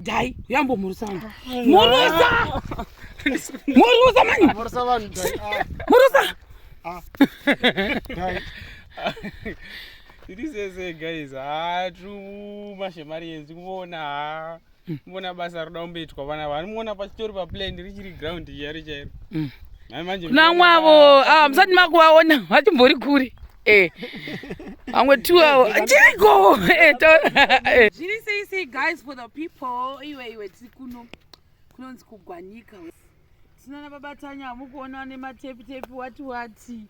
Dai, yambo murusa wangu. Murusa! Murusa mani! Murusa vanhu dai. Ah, Murusa! ah. Dai. tiri sese guys haa truma shemari yenzi kuona haa kuona basa roda kumboitwa vana vanomuona pachitori paplane richiri ground chairo chairo Mm. Nhai manje Kuna mwavo, ah, musati makuvaona, vachimbori kure. Eh. Amwe two hour. Jago. Eh, eh. Jiri say say guys for the people. Iwe iwe tiri kuno. Kunonzi kugwanyika. Tinana baba Tanya mukuona ne matepi tepi wati wati.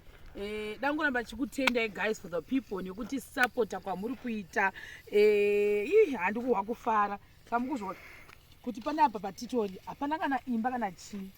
Eh, dangoramba chikutendai guys for the people nekuti supporta kwamuri kuita eh, ii handikuhwa kufara Kamukuzviona kuti pane apa patitori hapana kana imba kana chii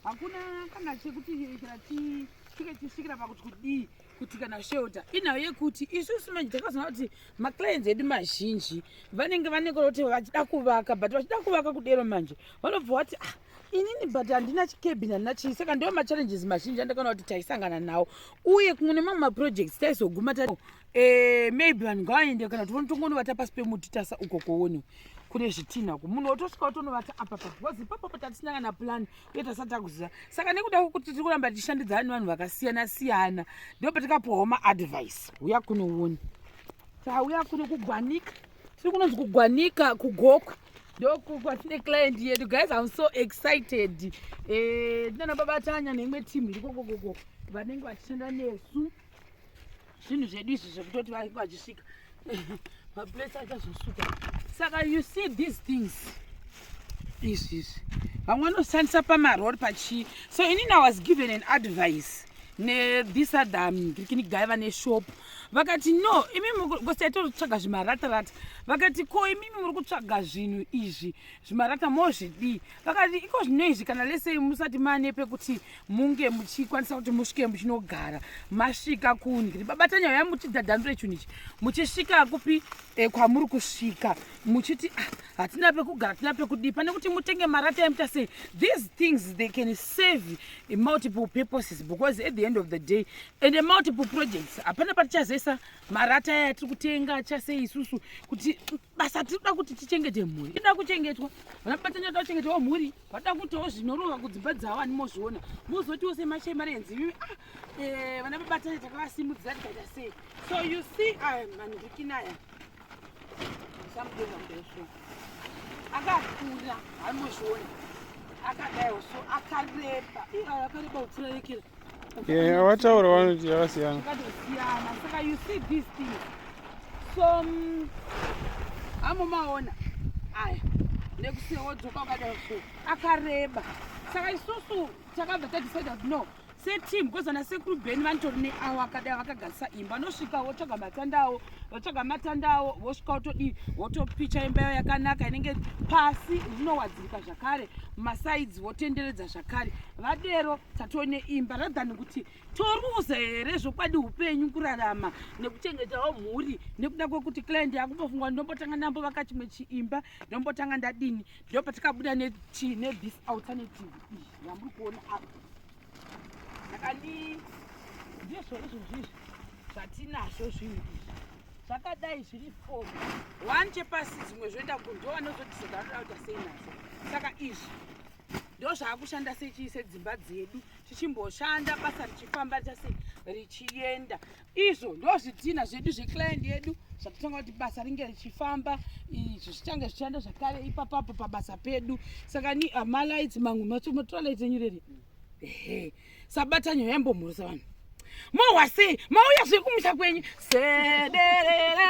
hakuna kana chekuti kana chii tike tisvikira pakuti kudii kuti kana shelter inhau yekuti isusu manje takazoona kuti maclients edu mazhinji vanenge vanekora kuti vachida kuvaka but vachida kuvaka kudero manje vanobva vati ah inini but handina chikebin handina chii saka ndiwo machallenges mazhinji andakaona kuti taisangana nawo uye kumwe nemamwe maprojects taizoguma ta Eh, maybe vanhu ngavaende kana tivone tongonovata pasi pemuti tasa uko koone kune zvitinha ko munhu wotosvika wotonovata apa pa bcause ipapo pa tatisina kana plan uye tasati takuziva saka nekuda kwekuti tiri kuramba tichishandidzana nevanhu vakasiyana siyana ndo patikapuwawo maadvice uya kunoone tauya kuno kugwanika tiri kunonzi kugwanika kugoku ndokwatine client yedu guys im so excited eh, ndinana babatanya neimwe team irikokokoko vanenge vachishanda nesu zvinhu zvedu izvi zvekutoti vainge vachisvika maplace achazosuka saka you see these things izvi izvi vamwe vanoshandisa pamarori pachii so inini i was given an advice nethis other mgirikini guy vane shop vakati no imimi ngosi yaitotsvaga zvimaratarata vakati ko imimi muri kutsvaga zvinhu izvi zvimarata mozvidii vakati iko zvino izvi kana lesei musati mane pekuti munge muchikwanisa kuti musvike muchinogara masvika kundri babatanya uya muchidhadhandure chinhu ichi muchisvika kupi e, kwamuri kusvika muchiti ah, hatina pekugara hatina pekudii pane kuti mutenge marata emuta sei these things they can save multiple purposes because at the end of the day and a multiple projects hapana patichazoisa marata aya tiri kutenga chasei isusu kuti basa tinoda kuti tichengete mhuri inoda kuchengetwa vana babatanya toda kuchengetawo mhuri vada kutiwo zvinorova kudzimba dzavo ani mozviona mozotiwo semachemarenzi ivi ah, eh, vana babatanya takavasimudzira tikaita sei so you see ah, mandikinaya samudeamudaso akakura ani mozviona akadayo so akareba akareba kupfura yekera Yeah, wataura vanoti yakasiyana. Yakasiyana. Saka you see these things. So um, amumaona aya nekusiya wodzoka wakadai so akareba saka isusu takabva tadecide kuti no seteam because vana sekuru bheni vanitori neawo akadai vakagadzisa imba anosvika wotsvaga matanda awo votsvaga matanda awo vosvika votodii votopicha imba yawo yakanaka inenge pasi rinowadzirika zvakare masaidzi votenderedza zvakare vadero tatone imba rathan kuti toruza here zvokwadi upenyu kurarama nekuchengetawo mhuri nekuda kwekuti client yakumbofungwa ndombotanga ndambo vaka chimwe chiimba ndombotanga ndadini ndopatikabuda nechii nebis alternative iyi yamuri kuona apa Ndakadii? Ndizvo izvo zvizvi zvatinazvo zvinhu izvi zvakadai zviri four one chepasi dzimwe zvoenda kunjo vanozodisa dzavanoda kuita sei nazvo saka izvi ndo zvaakushanda sechii sedzimba dzedu tichimboshanda basa richifamba richase richienda izvo ndozvidhina zvedu zveclient yedu zvatotanga kuti basa ringe richifamba izvi zvichange zvichienda zvakare ipapapo pabasa pedu saka ni ah, malights mamwe macho matrolight enyu reri ehe sabatanyo yambomhurisa vanhu mohwa sei mauya zviri kumusha kwenyu sederera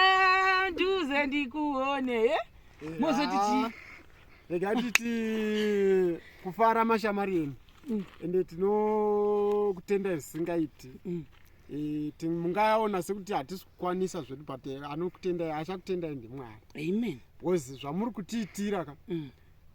nduze ndikuone e eh? mozoti chii ah, rega titi kufara mashamari enu mm. ende tinokutenda zvisingaiti mm. Eh, mungaona sekuti hatisi kukwanisa zvedu but eh, anokutendai achakutendai ndimwari amen because zvamuri kutiitira ka mm.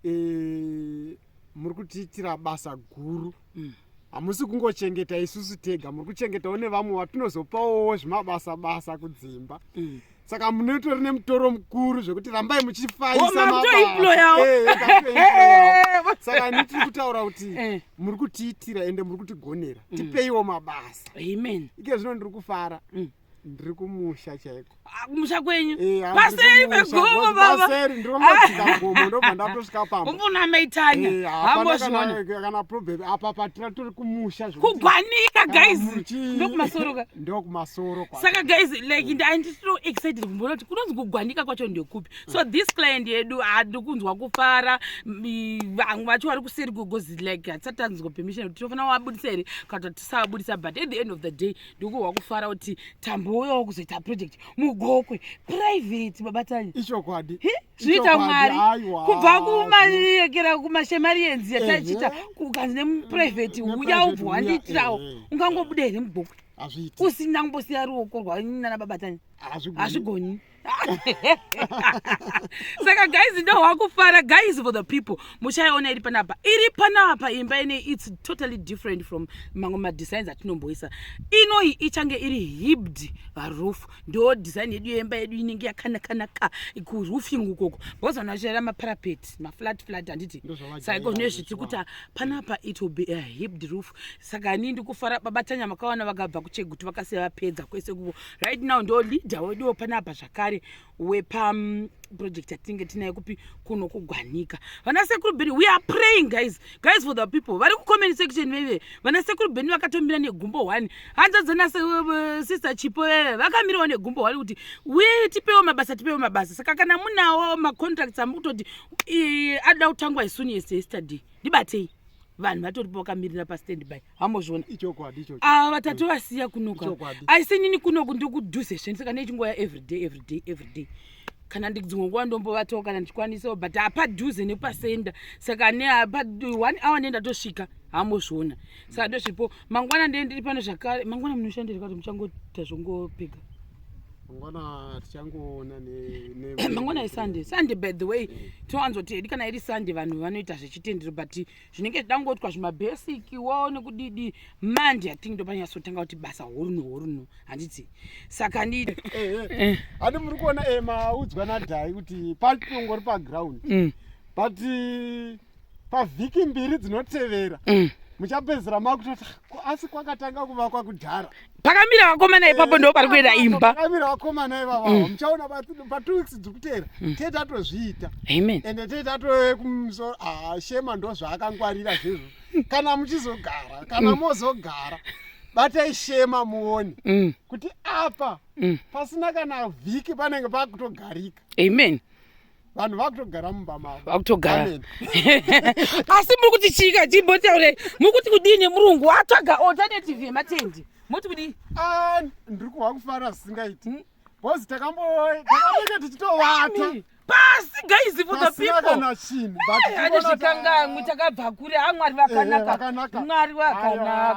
eh, muri kutiitira basa guru mm. hamusi mm. kungochengeta isusu tega muri kuchengetawo nevamwe vatinozopawowo zvimabasa basa kudzimba mm. saka munotori nemutoro mukuru zvekuti rambai muchifaisamakutoimployaosaka eh, eh, ni tiri kutaura kuti eh. muri kutiitira ende muri kutigonera mm. tipeiwo mabasa amen ike zvino ndiri kufara mm. ndiri kumusha chaiko ah, kumusha kwenyu paseri pegomo babaseri ndiri kungosvika gomo ndobva ndatosvika pamba umbona maitanya hambozviona kana problem apa patira tiri kumusha kugwanika guys ndokumasoroka ndokumasoro saka guys like mm. andisito excited kumboona kuti kunonzi kugwanika kwacho ndekupi mm. so this client yedu hadi kunzwa kufara vamwe vacho vari kuseri gogozi like hatisati tanzwa permission kuti tinofanira wabudisa here kana kuti tisawabudisa but at the end of the day ndikuhwa kufara kuti tambouyawo kuzoita project mugokwe private babatanya ichokwadi zvinoita mwari kubva kumayekera kumashemari yenzi yataichiita ukanzi nemuprivheti uya ubva wandiitirawo ungangobuda here mubhuku usina kumbosiya ruoko rwanana babatani hazvigoni saka guys ndo wakufara guys for the people muchaiona iri panapa iri panapa imba ine its totally different from mamwe madesigns atinomboisa inoyi ichange iri hibd roof ndo design yedu yemba yedu inenge yakanakanaka kuroofing ukoko because vanhu vachirara maparapet maflat flat handiti saiko zvine zviti kuti panapa it will be a hipd roof saka nii ndikufara baba tanya makawana vakabva kucheguti vakasiya vapedza kwese kuvo right now ndo leader weduwo panapa zvakare wepa mm, project yatinenge tinayo kupi kuno kugwanika vana sekuru biri we are praying guys guys for the people vari kucomment section veve vana sekuru beni vakatomira negumbo one hanzvadzana sister chipo veve vakamirawo negumbo one kuti we tipewo mabasa tipewo mabasa saka kana munawo macontracts amuri kutoti adoda kutangwa isuni yes yesterday ndibatei vanhu vatoripo vakamirira pastand by hambozviona ichokwadi ichocho ava ah, tatovasiya kunoka ichokwadi aise nini kunoku ndiri kudhuze zveni saka nechinguva ya everyday everyday everyday kana ndidzimwe nguva ndombovatawo kana ndichikwanisawo but hapadhuze nepasenda saka ne apa one hour nenda tosvika hambozviona saka ndozvipo mangwana ndee ndiri pano zvakare mangwana munoshandirika kuti muchangoita zvongopega mangwana tichangoona mangwana isunday sunday by the way eh. tinowanzoti hedi kana iri sunday vanhu vanoita zvechitendero but zvinenge zvichida kungoitwa zvimabasic wo nekudidi mandi ating ndopanyatsotanga kuti basa horunu horunu handiti saka ndi handi muri kuona e maudzwa nadhai kuti patongori paground mm. but pavhiki mbiri dzinotevera mm. muchapedzera makutoti asi kwakatanga kuvakwa kudhara pakamira vakomana ipapo ndo pari kuenda imba pakamira vakomana ivava mm. muchaona pa two weeks dzikutera mm. tete atozviita amen ende tete atove kumusoro ah, shema ndo zvaakangwarira zvezvo kana muchizogara kana mm. mozogara batai shema muone mm. kuti apa mm. pasina kana vhiki panenge pakutogarika amen vanhu vakutogara mumba mavo vakutogara asi muri kuti chika chimbotaure muri kuti kudii nemurungu watsvaga alternative yematendi moti kudii ah, ndiri kuhwa kufara zvisingaiti hmm? bcause takambotakamboita tichitovata pasi guys for the peopleane zvikangamwi takabva kure a mwari vakanaka mwari vakanaka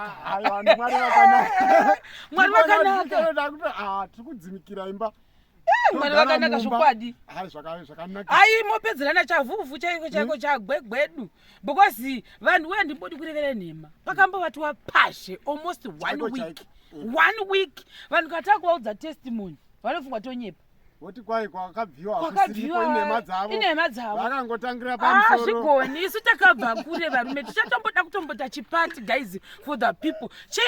mwari vakanaka tiri kudzimikira imba Eh, mwari Togara vakanaka mumba. zvokwadi Hai, zvaka- zvakanaka ayi mopedzerana chavhuvhu chaiko chaiko chagwegwedu because vanhu wee ndimbodi kurevera nhema pakambovatiwa pashe almost one Chaiko week chaiko. Mm. one week vanhu katava kuvaudza testimony vanofungwa tonyepa woti kwai kwakabviwa hakusiriko kwakabviwa inhema dzavo inhema dzavo vakangotangira Ah, pamusoro zvigoni isu takabva kure varume tichatomboda kutombota chipati guys for the people che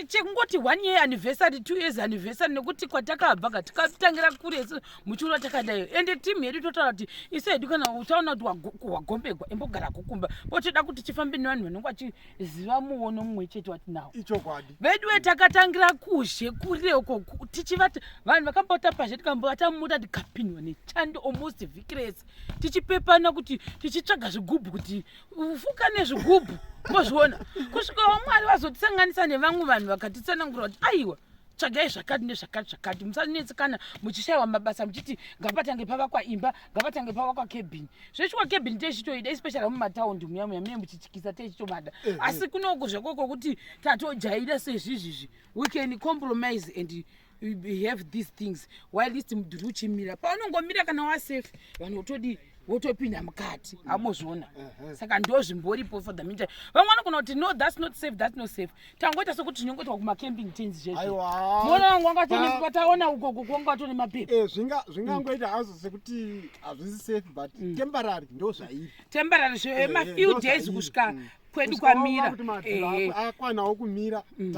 chekungoti one year anniversary two years anniversary nekuti kwatakabva ka tikatangira kure isu muchiona takadayo ende team yedu totaura kuti isu hedu kana uchaona kuti wagombegwa imbogara kukumba potoda kuti chifambe nevanhu vanenge vachiziva muono mumwe chete wati nawo ichokwadi veduwe takatangira kuzhe kure uko tichivati vanhu vakambotapazhe tikambovata muda tikapindwa nechando almost vhiki rese tichipepana kuti tichitsvaga zvigubhu kuti kufuka nezvigubhu mozviona kusvikawo mwari vazotisanganisa nevamwe vanhu vakatitsanangura kuti aiwa tsvagai zvakati nezvakati zvakati musanetsekana muchishayiwa mabasa muchiti ngapatange pavakwa imba ngapatange pavakwa kebhini zvechikwa kebhini teichitoida especially mumataundi muya muya mune muchityisa teichitomada eh, eh. asi kunoko zvakoko kuti tatojaira sezvizvizvi we can compromise and behave these things while least mudhuri uchimira paunongomira kana wasafe vanhu votodii wotopinda mukati amozviona saka ndo zvimboripo for the meantime vamwe vanogona kuti no thats not safe thats not safe tangoita sokuti tinongoitwa kumacamping tins zvezvoona vanga vangataona ugogo kwanga vatone mapepa eh, zvingangoita hazo sekuti hazvisi safe but mm. temporary ndo zvairi temporary zvemafiw eh, eh, days kusvika mm. kwedu kwamira akwanawo eh. kumira mm.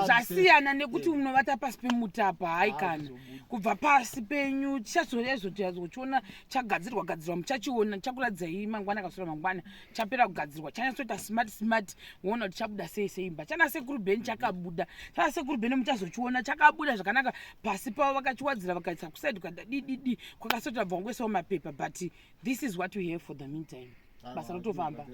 zvasiyana nekuti eh. unovata pasi pemutapa hai ah, kana kubva pasi penyu tichazoezotiazochiona chagadzirwa gadzirwa muchachiona chakuradzai mangwana kasura mangwana chapera kugadzirwa chanyasoita smart smart woona kuti chabuda sei sei imba chana sekuru beni chakabuda chana sekuru beni muchazochiona chakabuda zvakanaka pasi pavo vakachiwadzira vakaisa kusaidi kukadadididi kwakasotabva kwangoisawo mapepa but this is what we have for the meantime ah, basa rotofamba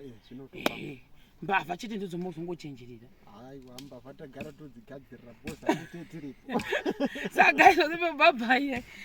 eh, mbavha chete ndidzo mozongochenjerera aiwa mbavha tagara todzigadzirira bosa tete tiripo saka izvozvo pabhabhaiye